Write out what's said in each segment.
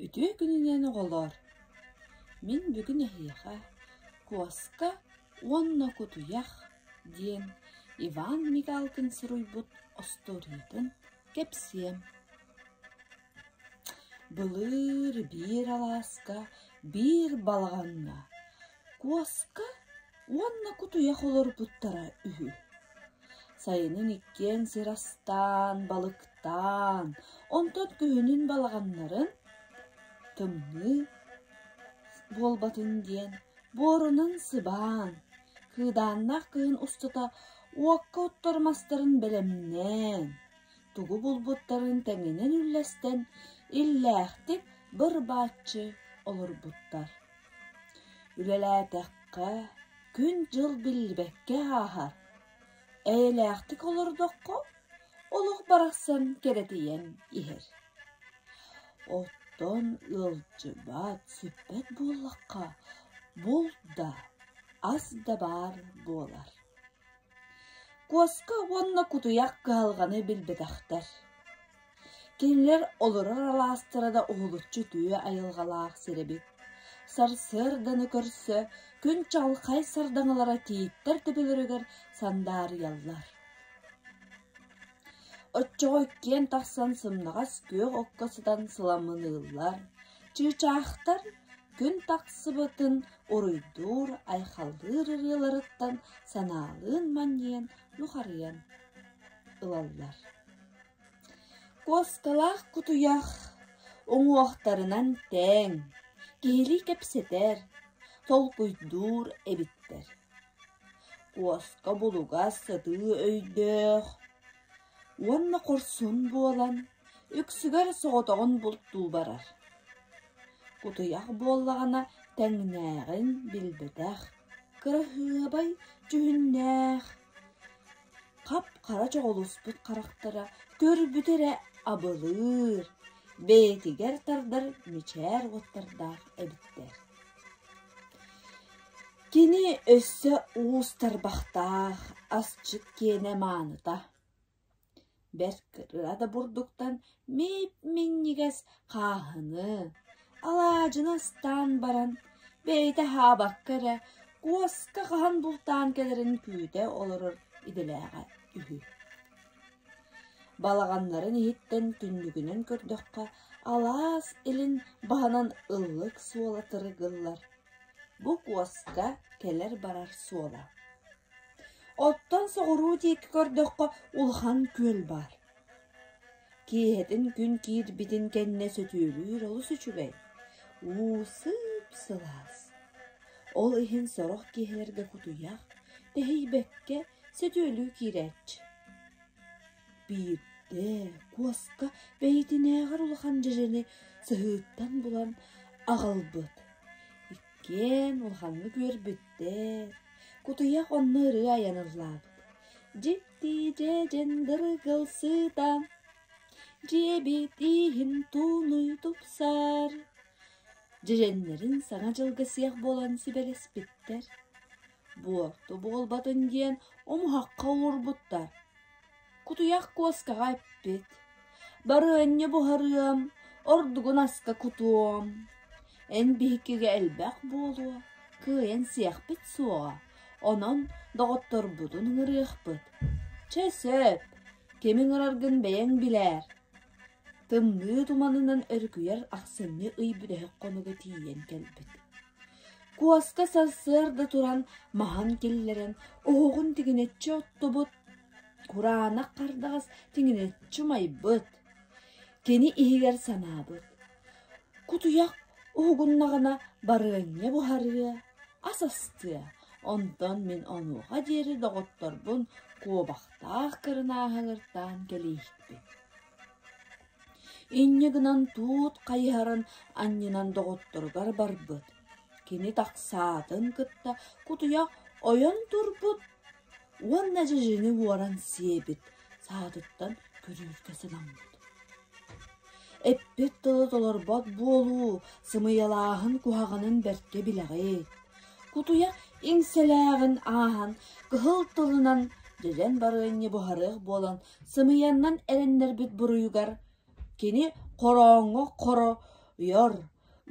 Үтүө күнүнэн оҕолоор! Мин бүгүн эһиэхэ куоска уонна кутуйах диэн Иван Мигалкин суруйбут остуоруйатын кэпсиэм. Былыр биир алааска биир балаҕаҥҥа Куоска уонна кутуйах олорбуттара үһү. Сайынын иккиэн сир астаан, балыктаан, онтон күһүнүн балаҕаннарын тымныы буолбатын диэн буорунан сыбаан, кыыдааннаах кыһын устата уокка оттор мастарын бэлэмнээн, тугу булбуттарын тэҥинэн үллэстэн, иллээхтик быр-бааччы олорбуттар. Үлэлээтэххэ, күн-дьыл биллибэккэ ааһар. Эйэлээхтик олордоххо, олох барахсан кэрэтийэн иһэр. Оттон ыалдьыбат, сүппэт буоллахха, булт да, ас да баар буолар. Куоска уонна кутуйах кыһалҕаны билбэтэхтэр. Кинилэр олорор алаастара да уһулуччу үтүө айылҕалаах сир эбит. Сарсыарданы көрсө күн чалхай сардаҥалара тииттэр төбөлөрүгэр сандаарыйаллар. Оччоҕо иккиэн тахсан сымнаҕас күөх окко сытан сыламыныыллар, чыычаахтар күн тахсыбытын уруйдуур, айхаллыыр ырыаларыттан санаалыын манньыйан нухарыйан ылаллар. Куоскалаах кутуйах уҥуохтарынан тээҥ, киһилии кэпсэтэр, толкуйдуур эбиттэр. Куоска булугас сытыы өйдөөх, уонна хорсун буолан, үксүгэр соҕотоҕун бултуу барар. Кутуйах буоллаҕына тэҥнээҕин билбэтэх, кыраһыабай дьүһүннээх, хап-хара чоҕулуспут харахтара көрбүтэ эрэ абылыыр, бэйэтигэр тардар мичээр уоттардаах эбиттэр Кини өссө уус тарбахтаах, асчыт киэнэ мааныта, бэрт кыра да бурдуктан мип-минньигэс хааһыны, алаадьыны астаан баран, бэйэтэ аһаабакка эрэ куоска хаһан бултаан кэлэрин күүтэ олорор идэлээҕэ үһү. Балаҕаннарын иһиттэн түннүгүнэн көрдөххө, алаас илин баһынан ыллык суола тырыгыллар Бу куоска кэлэр-барар суола. Оттон соҕуруу диэки көрдөххө улахан күөл баар. Киэһэтин күн киирбитин кэннэ сөтүөлүүр олус үчүгэй. Уу сыып-сылаас. Ол иһин сорох киһилэргэ кутуйах, тэһийбэккэ сөтүөлүү киирээччи. Биирдэ Куоска бэйэтинээҕэр улахан дьэдьэни сыһыыттан булан аҕалбыт. Иккиэн улаханнык үөрбүттэр. Кутуйах онно ырыа айан ыллаабыт. Дьикти дьэдьэн дыргылсыытан дьиэбит ииһин туунуй тупсар. Дьэдьэннэрин Саҥа дьылга сиэх буолан сибэрэспиттэр. Буо, ту буолбатын диэн омуһахха олорбуттар. Кутуйах куоскаҕа эппит, «Барыанньа буһарыам, ордугун аска кутуом. Эн биһикигэ элбэх буолуо, кыайан сиэхпит суоҕа, онон доҕотторбутун ыҥырыахпыт. Чэ сөп, ким ыҥыраргын бэйэҥ билээр». Тымныы туманынан өрүкүйэр ахсынньы ый бүтэһик хонуга тиийэн кэлбит Куоска сарсыарда туран маһын киллэрэн, оһоҕун тигинэччи оттубут, кураанах хардаҕас тигинэччи умайбыт, кини иһигэр санаабыт: «Кутуйах уһугуннаҕына барыанньа буһарыа, ас астыа, онтон мин онуоха диэри доҕотторбун куобахтаах кырынааһыгыртаан кэбиэһикпин» Инньэ гынан туут хайыһарын анньынан доҕотторугар барбыт, кини тахсаатын кытта кутуйах ойон турбут уонна дьэдьэҥи буоран сиэбит, саатыттан көрүүргэ сыламмыт. Эппит тыла толорбот буолуу сымыйалааһын куһаҕанын бэркэ билэҕит. Кутуйах иҥсэлээҕин ааһан, кыһыл тылынан дьэдьэн барыанньа буһарыах буолан Сымыйаннан эрэннэрбит буруйугар кини хорооҥҥо хоройор,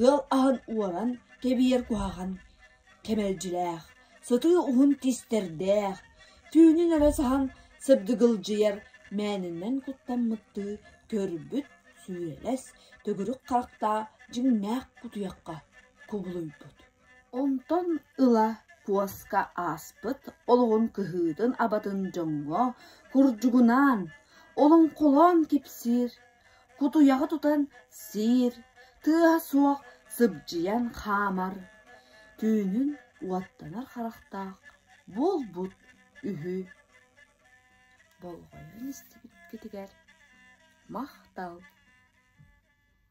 ыал аһын уоран кэбиһэр куһаҕан кэмэлдьилээх, сытыы уһун тистэрдээх, түүнүн эрэ саһан сыбдыгылдьыйар мээнэнэн куттаммыттыы көрбүт сүүлэс төгүрүк харахтаах дьиҥнээх кутуйахха кубулуйбут Онтон ыла Куоска ааспыт олоҕун кыһыытын-абатын дьоҥҥо курдьугунаан, олоҥхолоон кипсиир, кутуйаҕы тутан сиир, тыаһа суох сыбдьыйан хаамар, түүнүн уоттанар харахтаах буолбут үһү. Болҕойон истибиккитигэр махтал